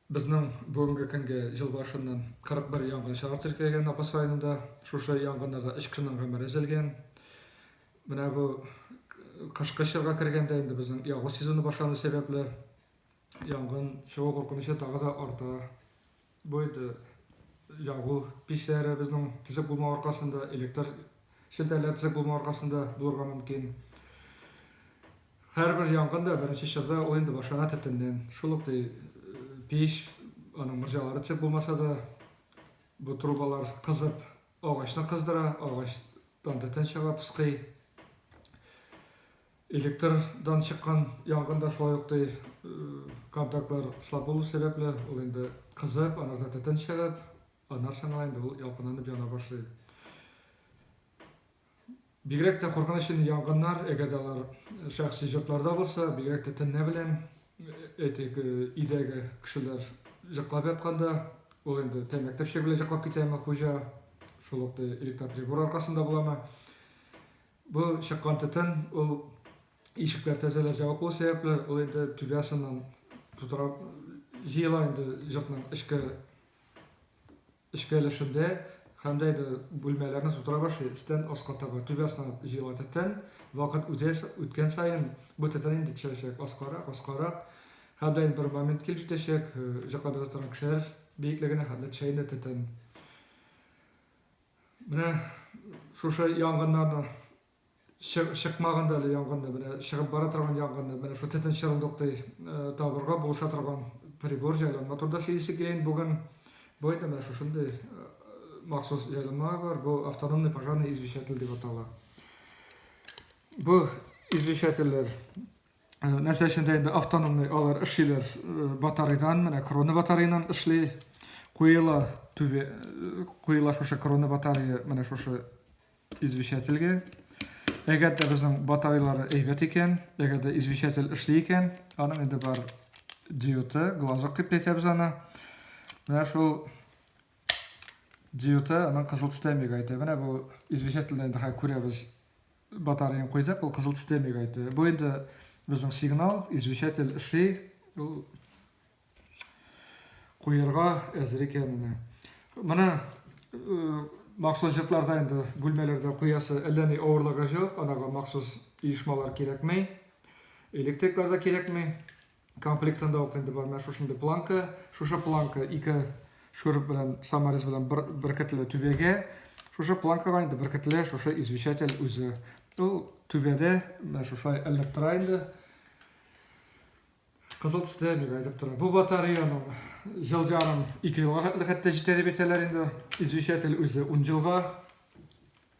Безнең бүгенге көнге ел башыннан 41 янгын чыгар теркәлгән Апас районында. Шушы янгыннарда 3 кешенең гомере өзелгән. Менә бу кышкы чорга кергәндә инде безнең ягу сезоны башлану сәбәпле янгын чыгу куркынычы тагы да арта. Бу инде ягу пичләребезнең төзек булмау аркасында, электр челтәрләре төзек булмау аркасында булырга мөмкин. Һәрбер янгын да беренче чорда ул инде башлана төтеннән. Шул ук ди пич, аның морҗалары төзек булмаса да, бу трубалар кызып, агачны кыздыра, агачтан төтен чыга, пыскый. Электрдан чыккан янгын да шулай ук ди, контактлар слаб булу сәбәпле, ул инде кызып, анарда төтен чыгып, аннан соң гына инде ул ялкынланып яна башлый. Бигрәк тә куркыныч инде янгыннар, әгәр дә алар шәхси йортларда булса, бигрәк тә төнлә белән әйтик, өйдәге кешеләр җыклап ятканда, ул инде тәмәке төпчеге белән җыклап китәме хуҗа, шул ук ди, электроприбор аркасында буламы. Бу чыккан төтен ул ишекләр тәрәзәләр җабык булу сәбәпле, ул инде түбәсеннән тутыра җыела инде йортның эчке эчке өлешендә һәм дә инде бүлмәләрне тутыра башлый, өстән аска таба түбәсеннән җыела төтен. Вакыт үтә үткән саен бу төтен инде төшәчәк аскарак, аскарак. Һәм дә бер момент килеп җитәчәк, җыклап ята торган кешеләр биеклегенә һәм дә төшә инде төтен. Менә шушы янгыннарның чыкмаганда әле янгынны, менә чыгып бара торган янгынны, менә шул төтен чырындыктай э, табырга булыша торган прибор җайланма турында сөйлисе киләйен. Бүген бу инде менә шушындый э, махсус җайланма бар. Бу автономный пожарный извещатель дип атала. Бу извещательләр Э, нәрсә өчен дә инде автономный алар эшлиләр э, батарейдан менә крона батареянан эшли куела түбе э, куела шушы крона батарея менә шушы извещательгә әгәр дә безнең батареялары әйбәт икән әгәр дә извещатель эшли икән аның инде бар диоты глазок дип әйтәбез аны менә шул диоты аның кызыл төстәмеге әйтә менә бу извещательдә инде күрәбез Батареяны куйдык, ул кызыл төстә мигайды. Бу инде безнең сигнал, извещатель эшли. Ул куярга әзер икәнен. Менә махсус җыртларда инде бүлмәләрдә куясы әллә ни авырлыгы җок, анага махсус оешмалар кирәкми. Электрик база кирәкми. Комплектында ук инде бар менә шушындый планка. Шушы планка ике шүреп белән саморез белән бер, беркетле түбәгә. Шушы планкага инде беркетле шушы извещатель үзе. Ул түбәдә менә шушай элеп тора инде. Кызыл төстә бик әйтеп тора. Бу батареяның ел ярым ике елга хәтта җитә дип әйтәләр инде. Извещатель үзе 10 елга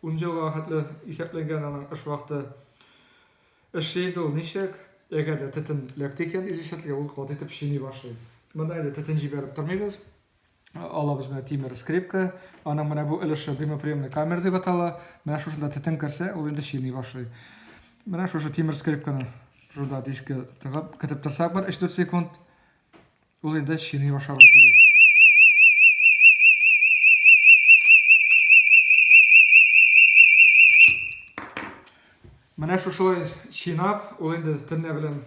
Унҗа елга хәтле исәпләнгән аның эш вакыты. Эшли инде ул ничек? Әгәр дә төтен эләкте икән изүчәтлегә, ул каты итеп чийни башлый. Монда инде төтен җибәреп тормыйбыз. Алабыз менә тимер скрипка. Аның менә бу өлеше дымоприемный камера дип атала. Менә шушында төтен керсә, ул инде чийни башлый. Менә шушы тимер скрипканы шунда дишкә тыгып, көтеп торсак бер 3-4 секунд, Ул инде чини башларга тиеш. Менә шушылай чинап, ул инде төнлә белән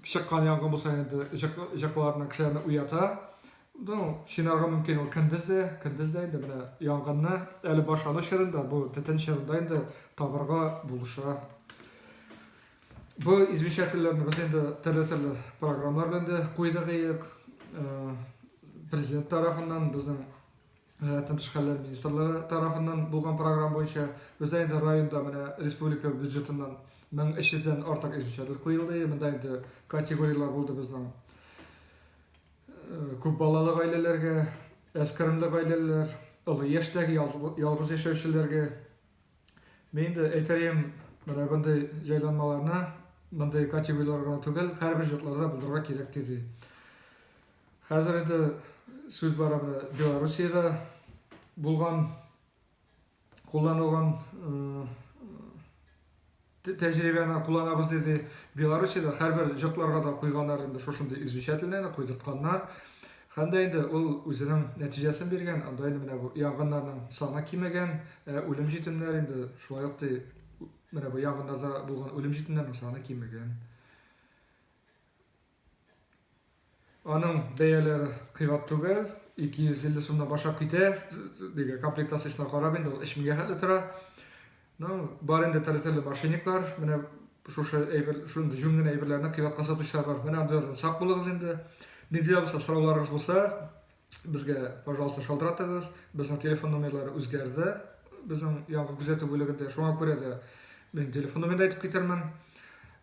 чыккан янгын булса инде җыкларны кешеләрне уята. Ну, чинарга мөмкин ул көндез дә, көндез дә инде менә янгынны әле башлану чорында, бу төтен чорында инде табырга булыша. Бу извещательләрне без инде төрле-төрле программалар белән дә куйдык иек. Э, президент тарафыннан безнең рәтен тыш хәлләр министрлыгы тарафыннан булган программа буенча бездә инде районда менә республика бюджетыннан 1300 дән артык извещатель куелды. Монда инде категорияләр булды безнең. Э, күп балалы гаиләләргә, әскермле гаиләләр, олы яшьтәге ялгыз яшәүчеләргә Мин дә әйтәем, менә мондый җайланмаларны мондый категорияләр гына түгел, һәрбер йортларда булдырырга кирәк диде. Хәзер инде сүз бара менә Белоруссиядә булган кулланылган Тәҗрибәне кулланабыз диде. Белоруссиядә һәрбер йортларга да куйганнар инде шушындый извещательныйны, куйдыртканнар. Һәм дә инде ул үзенең нәтиҗәсен биргән. Анда инде менә бу янгыннарның саны кимегән, ә үлем җитемнәр инде шулай ук ди, менә бу янгыннарда булган үлем җитемнәрнең саны кимегән. Аның бәяләре кыйбат түгел, 250 сумнан башлап китә, диге комплектациясенә карап инде ул 3000-гә хәтле тора. Ну, бар инде тәрәзәле машиниклар, менә шушы әйбер, шундый җүн генә әйберләрне кыйбатка сатучылар бар. Менә обзордан сак булыгыз инде. Нинди дә булса сорауларыгыз булса, Безгә, пожалуйста, шалтыратыгыз. Безнең телефон номерлары үзгәрде. Безнең яңгы күзәтү бүлегендә шуңа күрә дә мин телефон номерын әйтеп китермен.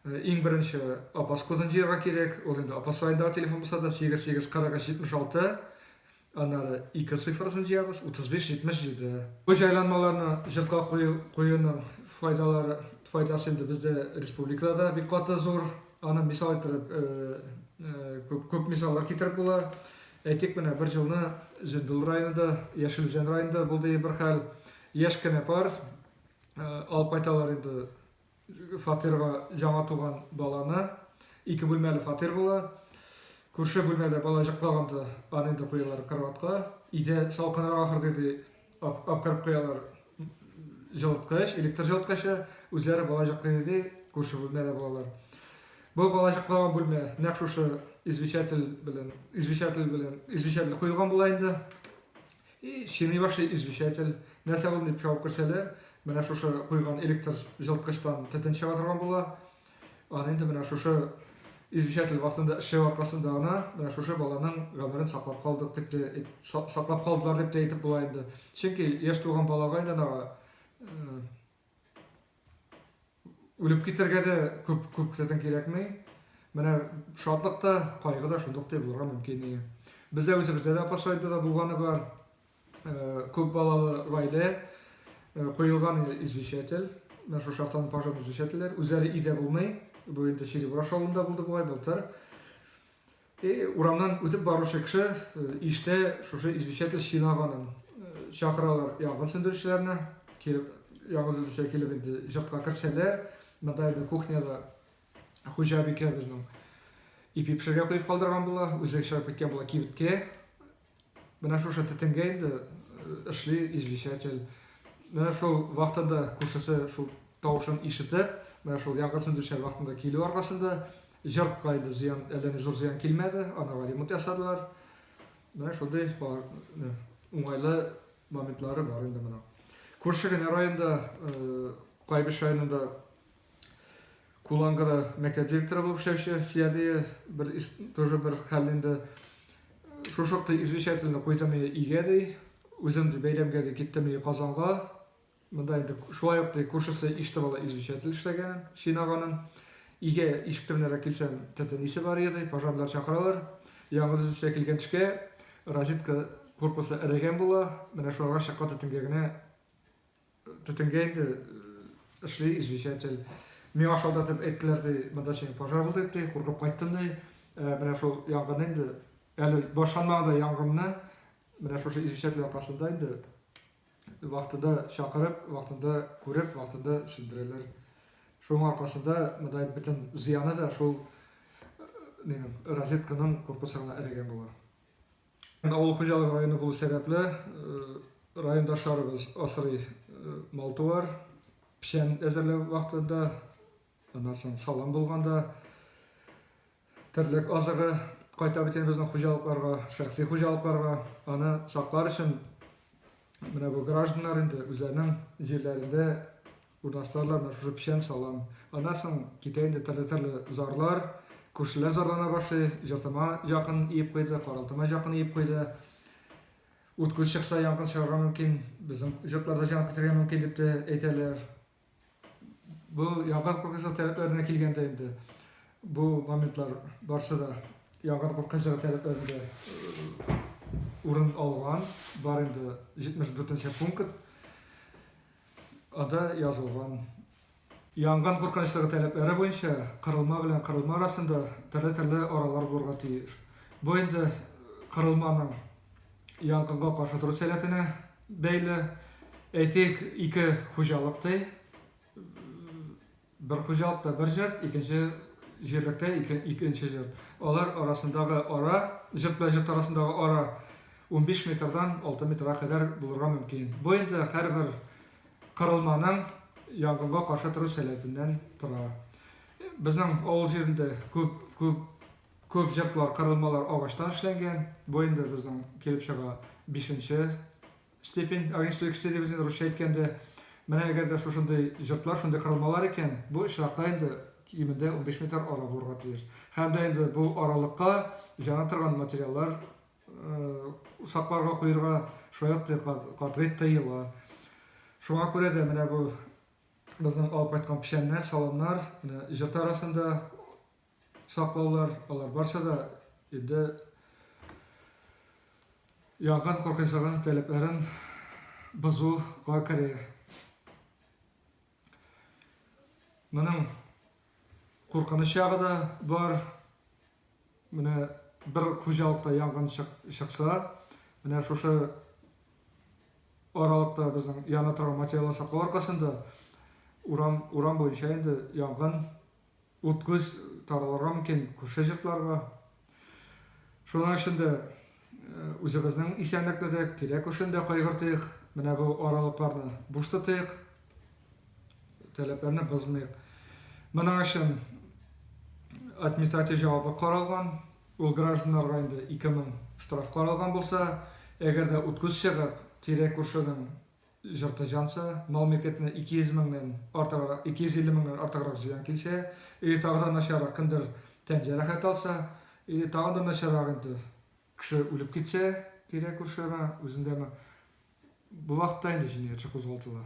Э, иң беренче апас кодын җыярга кирәк. Ул инде апас районындагы телефон булса да 884376. Аннары ике цифрасын җыябыз 3577. Бу җайланмаларны җыртка куюның файдалары файдасы инде бездә республикада бик каты зур. Аны мисал иттереп, күп, күп мисаллар китереп була. Әйтик, менә бер җылны Җендул районында, Яшел Үзән районында булды бер хәл. Яшь кенә пар алып кайталар инде фатирга яңа туган баланы. Ике бүлмәле фатир була. Күрше бүлмәдә бала җыклаганда аны инде куялар кроватька. Өйдә салкынрак ахыр диде. Апкарып куялар җылыткыч, электр җылыткычы, үзләре балачак кредиты күрше бүлмәдә булалар. Бу балачакланган бүлмә нәкъ шушы извещатель белән, извещатель белән, извещатель куелган була инде. И чини башлый извещатель. Нәрсә булды дип чабып керсәләр, менә шушы куйган электр җылыткычтан төтен чыга торган була. Аны инде менә шушы извещатель вакытында эшчәнлек аркасында гына менә шушы баланың гомерен саклап калдык дип тә саклап калдылар дип тә әйтеп була инде. Чөнки яшь туган балага инде ана үлеп китергә дә күп күп тәтен кирәкми. Менә шатлык та, кайгы да шундук дип булырга мөмкин. Бездә үзебездә дә апасайда да булганы бар. Күп балалы гаилә куелган извещатель, менә шушы автоның пожарный извещательләр, үзләре өйдә булмый, бу инде Черебураш авылында булды бугай, былтыр. И урамнан үтеп баручы кеше иштә шушы извещатель чинаганын чакыралар янгын сүндерүчеләрне, килеп яңгыр сүндерүчеләр килеп инде җортка керсәләр, монда инде кухняда хуҗабикә безнең ипи пешерергә куеп калдырган була, үзе чыгып киткән була кибеткә, Менә шушы төтенгә инде эшли извещатель. Менә шул вакытында күршесе шул тавышын ишетеп, менә шул янгын сүндерүчеләр вакытында килү аркасында җортка инде зыян, әллә ни зур зыян килмәде, анага ремонт ясадылар. Менә шундый уңайлы моментлары бар инде моның. Күрше генә районда, Кайбыч районында Куланга да мәктәп директоры булып эшләп эшләгән Сиядия бер тоже бер хәл инде шушы вакытта извещательно куйдым өйгә ди. Үзем ди бәйрәмгә ди киттем ди Казанга. Монда инде шулай ук ди күршесе иште бала извещатель эшләгән, чинаганын. Өйгә ишек төбенә килсәм, тәтә нисе бар иде, пожарлар чакыралар. Яңгыр төшә килгән төшкә розетка корпусы эрегән була. Менә шуларга чаккан тәтәнгә генә Төтенгә инде эшли извещатель. Миңа шалтыратып әйттеләр ди, монда синең пожар булды ди, куркып кайттым ди. Менә шул янгын инде, әле башланмаганда янгынны, менә шушы извещатель аркасында инде вакытында чакырып, вакытында күреп, вакытында сүндерәләр. Шуның аркасында монда бөтен зыяны да шул розетканың корпусына эләгән була. Авыл хуҗалыгы районы булу сәбәпле, райондашларыбыз асрый мал-туар, печән әзерләү вакытында, аннан соң салым булганда, терлек азыгы кайта бит инде безнең хуҗалыкларга, шәхси хуҗалыкларга. Аны саклар өчен менә бу гражданнар инде үзләренең җирләрендә Урнаштыралар менә шушы печән салам. Аннан соң китә инде төрле-төрле зарлар. Күршеләр зарлана башлый. Җыртыма якын иеп куйды, каралтыма якын иеп куйды. Ут күз чыкса, янгын чыгарга мөмкин. Безнең җыртларда җан китергә мөмкин дип тә әйтәләр. Бу янгын куркынычлы таләпләренә килгәндә инде бу моментлар барсы да янгын куркынычлы таләпләрендә э, урын алган. Бар инде 74 нче пункт. Анда язылган янгын куркынычлыгы таләпләре буенча кырылма белән кырылма арасында төрле-төрле аралар булырга тиеш. Бу инде кырылманың янгынга каршы тору сәләтенә бәйле. Әйтик, ике хуҗалык ди. Бер хуҗалыкта бер җыр, икенче җирлектә икенче җыр. Алар арасындагы ара, җыр белән җыр арасындагы ара 15 метрдан 6 метрга кадәр булырга мөмкин. Бу инде һәрбер кырылманың янгынга каршы тору сәләтеннән тора. Безнең авыл җирендә күп күп күп җыртлар, кырылмалар агачтан эшләнгән. Бу инде безнең килеп чыга 5 Степень огнестой экстези без инде русча әйткәндә, менә әгәр дә шушындый җортлар, шундый корылмалар икән, бу очракта инде кимендә унбиш метр ара булырга тиеш. Һәм дә инде бу аралыкка җана торган материаллар сакларга, куерга шулай ук катгый тыела. Шуңа күрә дә менә бу безнең алып кайткан печәннәр, саламнар, менә җорт арасында саклаулар, алар барча да инде янгын куркынычсызлыгы таләпләрен бозуга керә. Моның куркыныч ягы да бар. Менә бер хуҗалыкта янгын чыкса, менә шушы аралыкта безнең яна торган материаллар саклау аркасында урам, урам буенча инде янгын Ут-күз таралырга мөмкин күрше йортларга. Шуның өчен дә үзебезнең исәнлекне дә, тирә-күршене дә кайгыртыйк. Менә бу аралыкларны буш тотыйк, таләпләрне бозмыйк. Моның өчен административ җаваплылык каралган. Ул гражданнарга инде 2000 штраф каралган булса, әгәр дә ут-күз чыгып, тирә-күршенең Җыртыҗанча, мал-милкәтенә 200 меңнән артыграк, 250 меңнән артыграк зыян килсә, или тагы да начаррак, кемдер тән җәрәхәт алса, или тагы да начаррак инде, кеше үлеп китсә, тирә-күршеме, үзендәме, бу вакытта инде җинаятьче кузгалтыла.